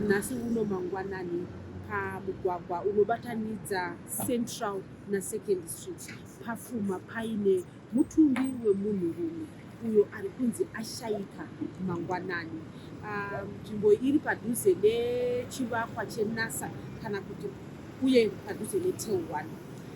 nhasi uno mangwanani pamugwagwa unobatanidza central nasecond street pafuma paine mutumbi wemunhurume uyo ari kunzi ashaika mangwanani ah, nzvimbo um, iri padhuze nechivakwa chenasa kana kuti uye padhuze netel one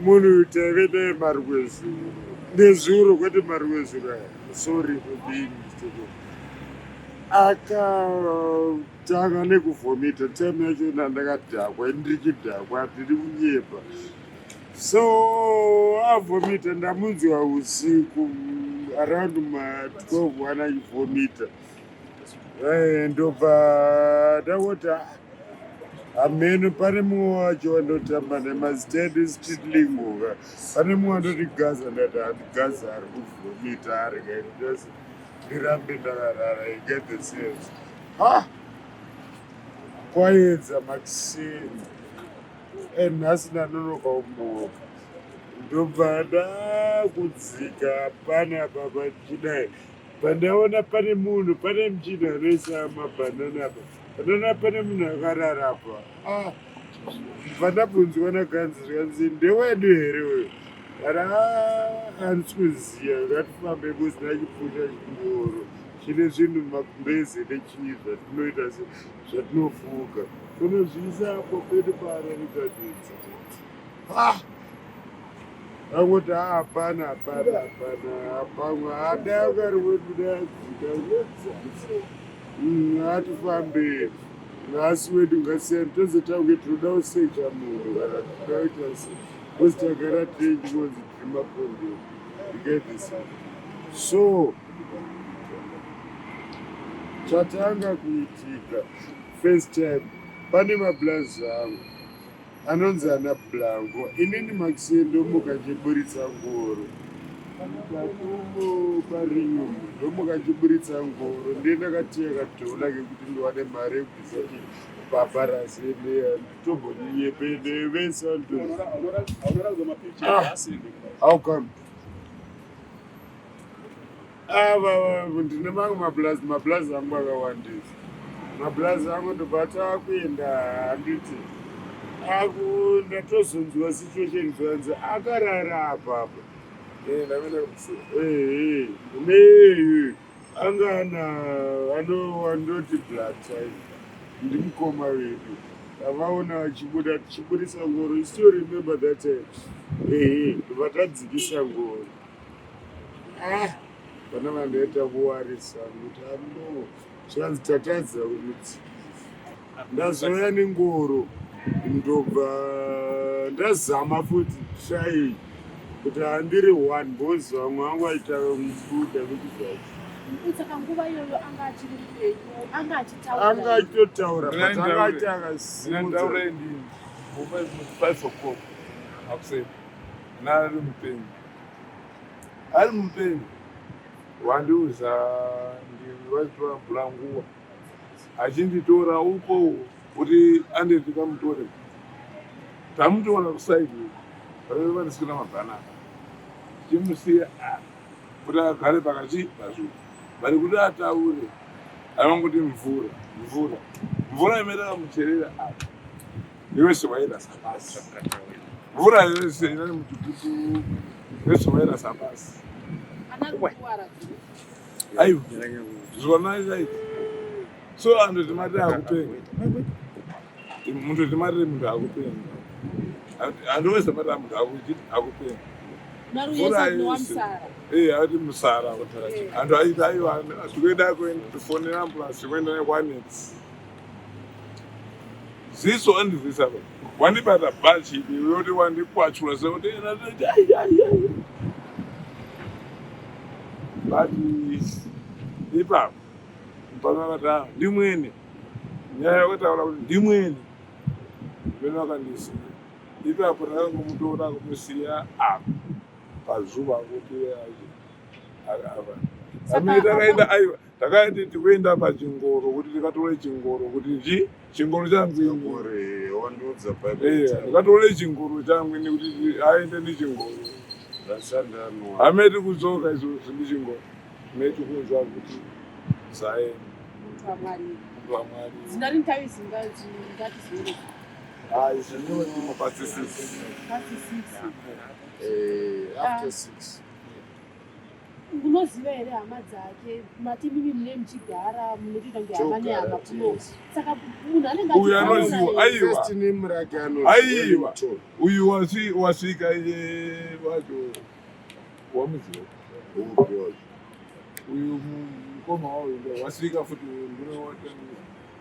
Munhu uyu taive naye marwezuro nezuro kwete marwezuro aya sorry kudini akatanga nekuvhomita time yachona ndakadhakwa ndirichidhakwa ndiri kunyepa so avhomita ndamunzwa usiku around ma12 one achivhomita eh, ndobva ndakoti ameno pane mumwe wacho wanotamba nemazitedi zitidlingoka pane mumwe wanoti gaza ndati handi gaza ari kuvhomita ari kaitose ndirambe ndakarara iget the sense ha kwaedza makisini and nhasi ndanonoka umoka ndobva ndakudzika pane apa pachidai pandaona pane munhu pane mchina anoisa mabhanana apa Nana pane munhu akarara apa. Ah, pandabvunzwa naganzi zvikanzi ndewedu here uyo. Kana handisi kuziva ngatifambe kusina chipfuta chingoro. Chine zvinhu makumbezi nechii zvatinoita se zvatinofuka. Kunozviisa apo pedu paararikadzi. Ah, akuti hapana hapana hapana hapamwe hada yakari wedu dayadzika ngatifambei mm, ngasi wedu ngasiyani tozotauke tinoda kusecha munhu kana tinoita se kosi tagara tine chingonzi tiri makonde ikedhisa so chatanga kuitika first time pane mablazi angu Anonzi ana Blanco. Inini Maxine ndomuka chiburitsa ngoro. Mukatumo parinyo ndomuka chiburitsa ngoro. Ndiye ndakatiya kadhona kekuti ndiwane mari yekubvisa kuti baba razeneya tombonyepene vese vantu. Ah, how come? Ava ndine mamwe mablazi mablazi angu akawandisa mablazi angu ndobata akuenda handiti aku ndatozonzwa situation zvanzi akarara apa apa ne anga ana anowandoti blood type ndimukoma wedu avaona achibuda tichibudisa ngoro istill remember that time ehe ndovatadzikisa ngoro ah, vana vandaita kuwarisa kuti ano zvikanzi tatadza kumudzikisa ndazouya nengoro ndobva ndazama futi shai kuti handiri one bhozi vamwe vangu vaita mubuda kuti zvacho saka nguva iyoyo anga achiri mupenyu anga achitaura anga achitotaura but anga aita akasimudza five o'clock akuseni nari mupenyu ari mupenyu wandiuza ndivaitwa bhulanguwa achinditora uko kuti anditi kamutore tamutora kusaidi vaive vandisina mabhanana timusiya ah, kuti agare pakati pazvo vari kuti ataure avanguti mvura mvura mvura imerera mucherera apa ah. yose wairasa pasi mvura yose ine mutukutu yose wairasa pasi aiwa zvonai chai so antu timati akupenga muntu timati muntu akupenga antu wese mati muntu akupenga mvura yose ee ati musara antu aiti aiwa zvikuenda kuenda tifonera ambulance kuenda nekwanetsi ziso andizisa apa wandibata bhachi ini yoti wandikwachura sekuti ena toti ai ai ai but ipapo pakavata ndimwene nyaya yakataura kuti ndimwene vene vakandisiya ipapo ndakangomutora kumusiya apa pazuva kuti achi- aka- apa amene takaenda aiwa takaiti tikuenda pachingoro kuti ndikatore chingoro kuti nji chingoro changu ndikatore chingoro changu ini kuti aende nechingoro hameti kudzoka izvozvo ndichingoro meti kunzwa kuti zaenda After six. unoziva here hama dzake mati mimi mune muchigara munotoita kunge hama nehama kuno saka munhu anenge uyu anoziva aiwa aiwa uyu wasvika wacho wamuziva uyu mukoma wayo wasvika futi uyu ndinowatanisa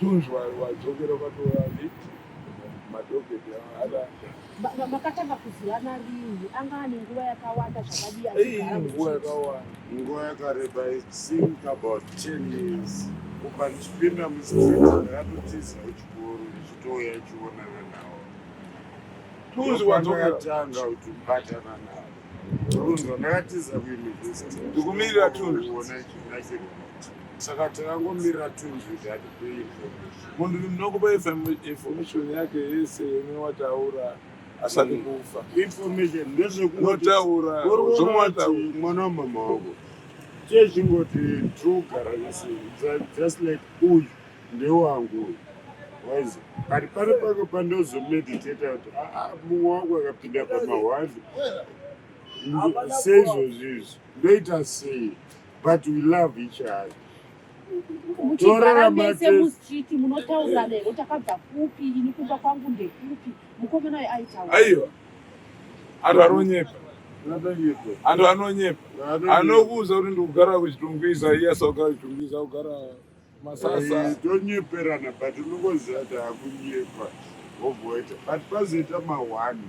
Tonzwa wadzokera kwatova late madhoketi hada. Ma- ma- makatanga kuzivana rini anga ane nguva yakawanda zvakadii Ei, achigara nguva muchiti yakawanda. Nguva yakareba I think about 10 years. Kubva ndichipinda mustreet ndakatotiza kuchikoro ndichitouya ichionana nawo. Tonzwa Ndopandakatanga wadzokera. kutobatana nawo. ndikumirira tunhu saka takangomirira tunhu kuti atipe munhu ndinokupa information yake yese yemwe wataura asati kufa information ndezvekunotaura zvomwe wataura mwana wamama wako chezvingoti togara nese just like uyu Ndewangu uyu. Waizi ari pari pake pandozomediteta kuti aa ah, ah, mumwe wangu akapinda pamahwandi seizvozvi izvi ndoita sei but we love each other muchigaramese mustreet munotaura lero takabva kupi ini kumba kwangu ndekupi mukomana uyo aitaura aiwa anhu anonyepa anhu anonyepa anokuudza kuti ndikugara kuchitungwiza iye saka kuchitungwiza kugara masasa Eh, tonyeperana but unongoziva kuti akunyepa wobhoita but pazoita mahwani